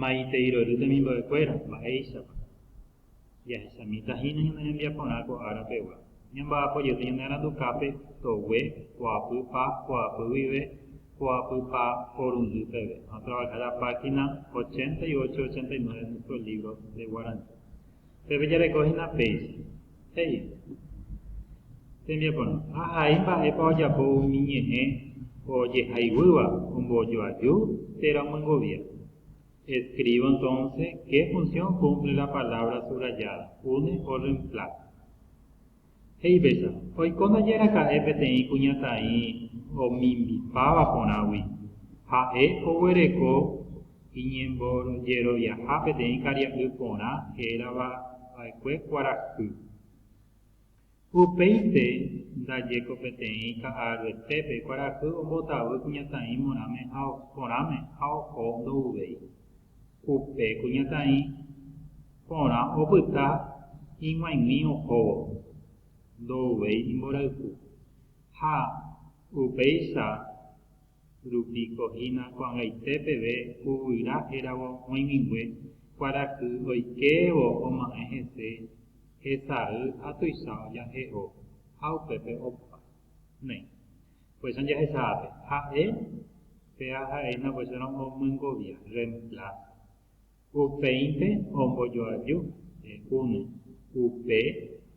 Maitei rory temimbo'ekuéra, mba'éichapa? Jahechamíta hína ñane rembiaporã ko ára pegua. Ñamba'apo jete ñane arandukápe togue, poapy pa, poapy guive, poapy pa porundy peve. Vamos a trabajar la página 88 y 89 de nuestro libro de guaraní. Peve jareko hína péicha. he'i tembiaporã, Ahai mba'épa ojapo umi ñe'ẽ ojehaiguýva ombojoaju térã omyengovia. Escribo entonces qué función cumple la palabra subrayada, une o reemplaza. He'i péicha, Oiko ndaje raka'e peteĩ kuñataĩ omimbipáva porãgui. Ha'e oguereko Iñembojeroviaha peteĩ karia'y porã hérava va'ekue kuarahy. Upéinte ndaje ko peteĩ ka'aruetépe kuarahy ombotavy kuñataĩ morãme ha porãme ha oho ndo'uvéi. Upe kuñataĩ porã opyta ig̃uaig̃ui ohóvo, ndo'uvéi imborayhu. Ha upéicha Rupíko hína ko'ag̃aite peve Yvyra héravo oĩmigue kuarahy oikévo oma'ẽ hese hesay ha tuicha ojahe'o ha upépe opa. Néi. Upéicharõ jahechápe, ha'e pe aha'éina upéicharõ omyengovia, reemplaza. Upéinte ombojoaju une, upe,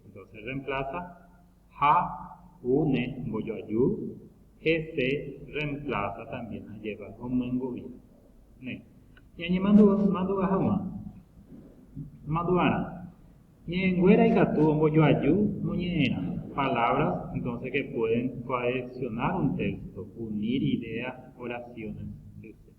entonces se reemplaza, ha une mbojoaju, he se reemplaza también ha lleva omyengu'i. Néi. Ñañemandu'a haguã. Mandu'arã. Ñe'ẽnguéra ikatu ombojoaju moñe'ẽrã. Palabras entonces que pueden cohesionar un texto, unir ideas, oraciones, etc.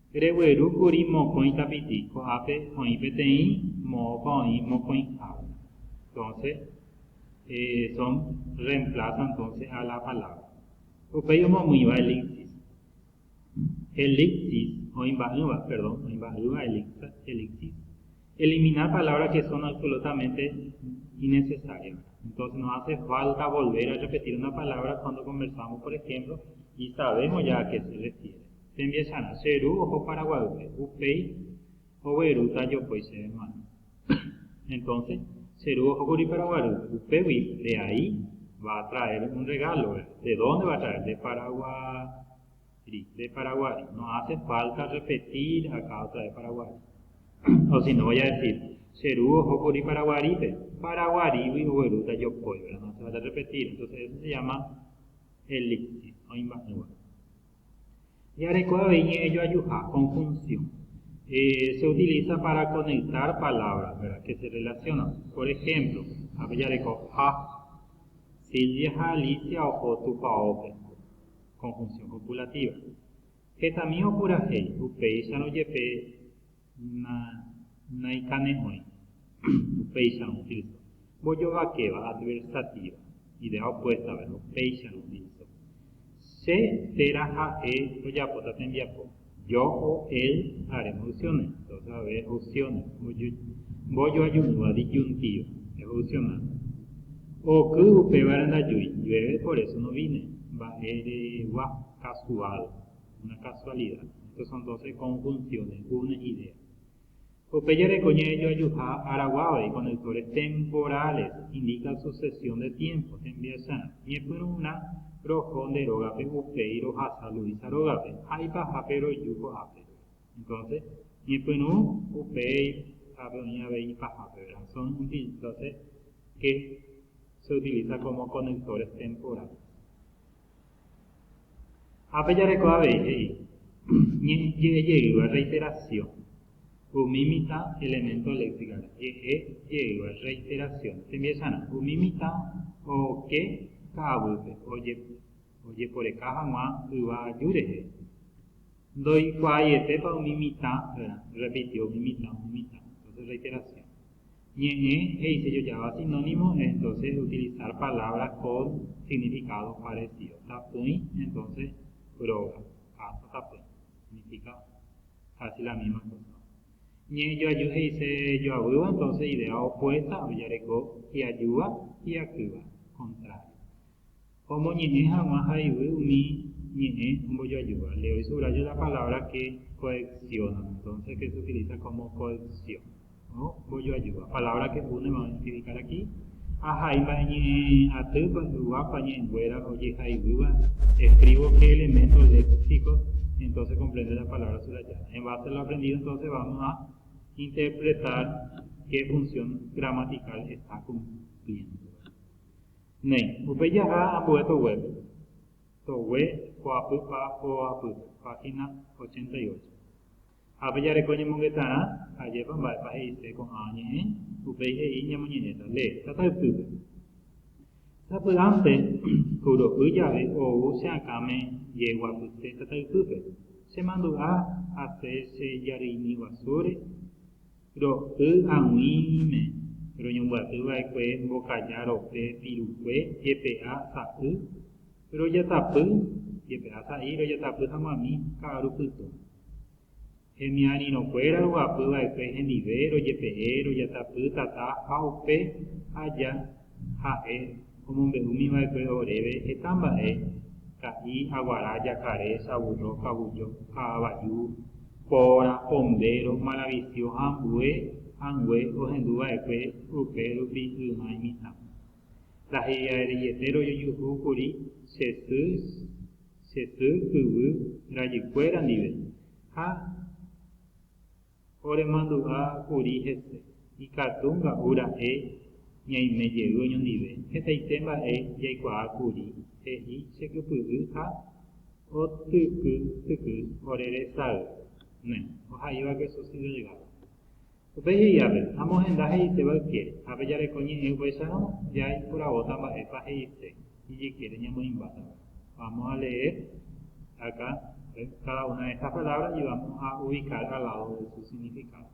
Regueru kuri mokõi tapiti ko'ápe oĩ peteĩ moõpa oĩ mokõihápe. Entonce, eh, son reemplaza entonce a la palabra. Upéi omomýiva elixir. Elixir, oĩ mba'ỹva, perdón, oĩ mba'ýva elixir, elixir. Eliminar palabras que son absolutamente innecesarias. Entonces no hace falta volver a repetir una palabra cuando conversamos, por ejemplo, y sabemos ya a qué se refiere. Tembiasarã, che ru oho Paraguaýpe, upéi oguerúta jopói chéve mo'ãme. Entonce, che ru ohókuri Paraguarýpe, upégui de ahí va a traer un regalo, ¿verdad? ¿De dónde va a traer? De Paraguari, de Paraguari. No hace falta repetir acá otra vez Paraguari. O si no, voy a decir, che ru ohókuri Paraguarípe, Paraguarigui oguerúta jopói, ¿verdad? No hace falta repetir. Entonces, eso se llama el léxico, oĩmba'ỹva. Jarekóva avei ñe'ẽ joajuha, conjunción, se utiliza para conectar palabras que se relacionan. Por ejemplo, ápe jareko ha, Silvia ha Alicia oho tupaópe, conjunción copulativa. Hetami opurahéi, upéicharõ jepe. Na, naikane'õi. Upéicharõ, Tilso. Mbojovakéva, adversativa, idea opuesta, verbo. Péicharõ, Tilso. Che térã ha'e tojapóta tembiapo. Yo o él haremos opciones. Entonces, a ver, opciones. Mbojoajúva, disyuntiva, evolucionar. Oky upévare ndajúi, llueve, por eso no vine. Mba'eregua, casual. Una casualidad. Estos son doce conjunciones, una idea. Upe jareko ñe'ẽ joajuha araguágui con autores temporales indica sucesión de tiempos, tembiasarã. Ñepyrũrã roho nde rógape upéi rohasa Luisa rógape ha ipahápe roju ko'ápe. Entonces, ñepyrũ, upéi, hápe oĩ avei ipahápe, ¿verdad? Son uti doce que se utiliza como conectores temporales. Ha pe jareko avei he'i, ñe'ẽ jeýva reiteración, umi mitã elemento léxicare, ñe'ẽ jeýva reiteración, tembiasarã, umi mitã oke ka'avýpe ojeporeka hag̃ua yva aju rehe, ndoikuaaietépa umi mitã rã, repitió umi mitã, umi mitã, entonces reiteración. Ñe'ẽ he'ise jojava sinónimo entonces utilizar palabra con significado parecido. Tapỹi entonces róga, casa tapỹi, significa casi la misma cosa. Ñe'ẽ joaju he'ise joavýva entonces idea opuesta ojareko hi'ajúva, hi'akýva, contrario. Omoñe'ẽ hag̃ua ha yvy umi ñe'ẽ ombojoajúva. Le doy subrayo la palabra que coexciona, entonces que se utiliza como coexcion. Ombojoajúva. Palabra que une vamos a identificar aquí. Ahai mba'e ñe'ẽ atýpa, yvápa, ñe'ẽnguéra ojeha yvýva. Escribo qué elementos léxicos, entonces comprende la palabra subrayada. En base a lo aprendido entonces vamos a interpretar qué función gramatical está cumpliendo. Néi, upe jaha ambue toguépe, togue ho'apy pa ho'apýpe, página ochenta y ocho. Ha pe jareko ñemongetarã, ajépa mba'épa he'ise ko'ã ñe'ẽ, upéi he'i ñamoñe'ẽta, le, tata ypýpe. Sapy'ánte, kuro'y jave ou che akãme jeguapyse tata ypýpe, chemandu'a asẽ che jarýimi guasúre, Ro'y ag̃uíme roñombyaty va'ekue mbokaja rope pirukue jepe'a sa'y rojatapy jepe'a sa'i rojatapy haguãmi ka'aru pytõ. Hemiarirõkuéra roguapy va'ekue hendive rojepe'e rojatapy tata ha upe aja Ha'e omombe'úmi va'ekue oréve heta mba'e, ka'i, aguara, jakare, saburro, kavujo, ka'avaju, póra, pombéro, maravisio ha ambue angue ohendu va'ekue rupe rupi yma imitã. Ndahe'iareiete rojojuhu kuri che sy, che sy kyvy rajykuéra ndive, ha. Oremandu'a kuri hese, ikatu nga'u ra'e ñaime jey oñondive, hetaite mba'e jaikuaa kuri, he'i che kypy'y ha otyky tyky ore resay ne, oha'íva queso si delgado. Upe jey ápe, amohenda he'iséva yke, ápe jareko ñe'ẽ upéicharõ, ja iporavóta mba'épa he'ise. Ijykére ñamoĩmbáta. Vamos a leer acá cada una de estas palabras y vamos a ubicar al lado de su significado.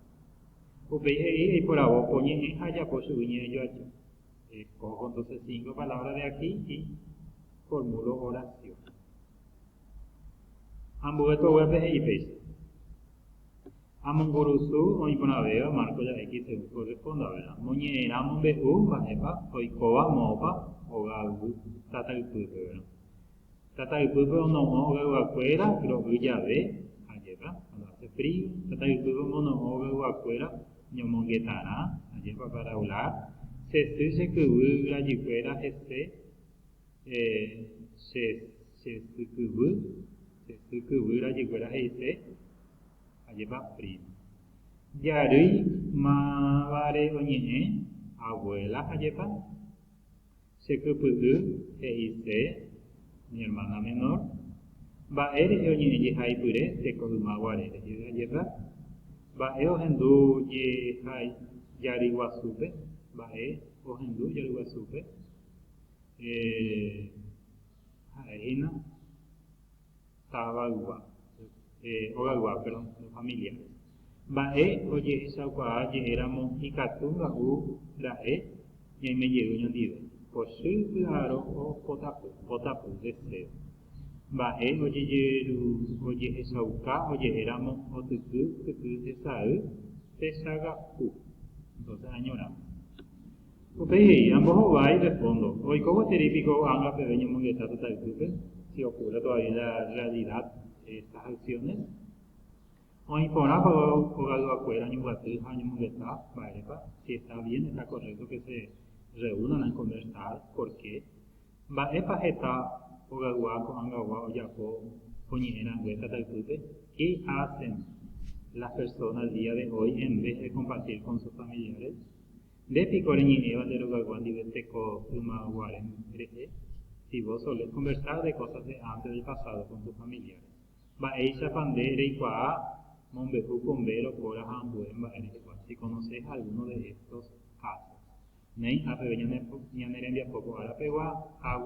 Upéi he'i eiporavo ko ñe'ẽ ha ajapo chugui ñe'ẽjoaja. Escojo entonces cinco palabras de aquí y formulo oración. Ambue ko'ápe he'i péicha. Ha mongurusu oĩ porãvéva marco ya X según corresponda, verá, moñe'ẽrã mombe'u mba'épa oikóva moõpa hoga yvy tata ypýpe, verá. Tata ypýpe ono'õ hogayguakuéra ro'y jave, ajépa, cuando hace frío, tata ypýpe omono'õ hogayguakuéra ñomongetarã, ajépa, para hablar, che sy che kyvy yvyrajukuéra hese, eh, che, che sy kyvy, che sy kyvy rajykuéra he'ise, Ajépa prima. Jarýi mávare oñe'ẽ, abuela ajépa. Che kypy'y he'ise mi hermana menor. Mba'e rehe oñe'ẽ jehaipyre teko yma guare rehe ajépa. Mba'e ohendu jeha jary guasúpe, mba'e ohendu jary guasúpe. Eh, ha'e hína távaygua, hogaygua, perdón, los familiares. Mba'e ojehechaukuaa je'éramo ikatu nga'u ra'e ñaime jey ñondive, pochy py'aro o potapy, potapy, deseo. Mba'e ojehechauka oje'éramo otyky tyky hesay techagapu, entonces añoramos. Upéi he'i, Ambohovái de fondo. Oiko gueteri piko ág̃a peve ñomongeta pyta ypýpe, si okurre tovavia la rrealida de estas aksiones? Oĩ porã peve hogayguakuéra oñembyaty ha oñemongeta mba'érepa, si esta bien, esta correcto que se reunan a conversar, por qué? Mba'épa heta hogaygua ko'ãgagua ojapo oñe'ẽ rangue tata ypýpe? Qué hacen las personas el día de hoy en vez de compartir con sus familiares? Nde piko reñe'ẽva nde rogaygua ndive teko yma guare rehe? Si vos solés conversar de cosas de antes del pasado con tus familiares, mba'éichapa nde reikuaa mombe'u ko mbe rokóra ha ambue mba'e rehegua? Si conoces alguno de estos casos, néi ha peve ñane rembiapo ko ára pegua, ha.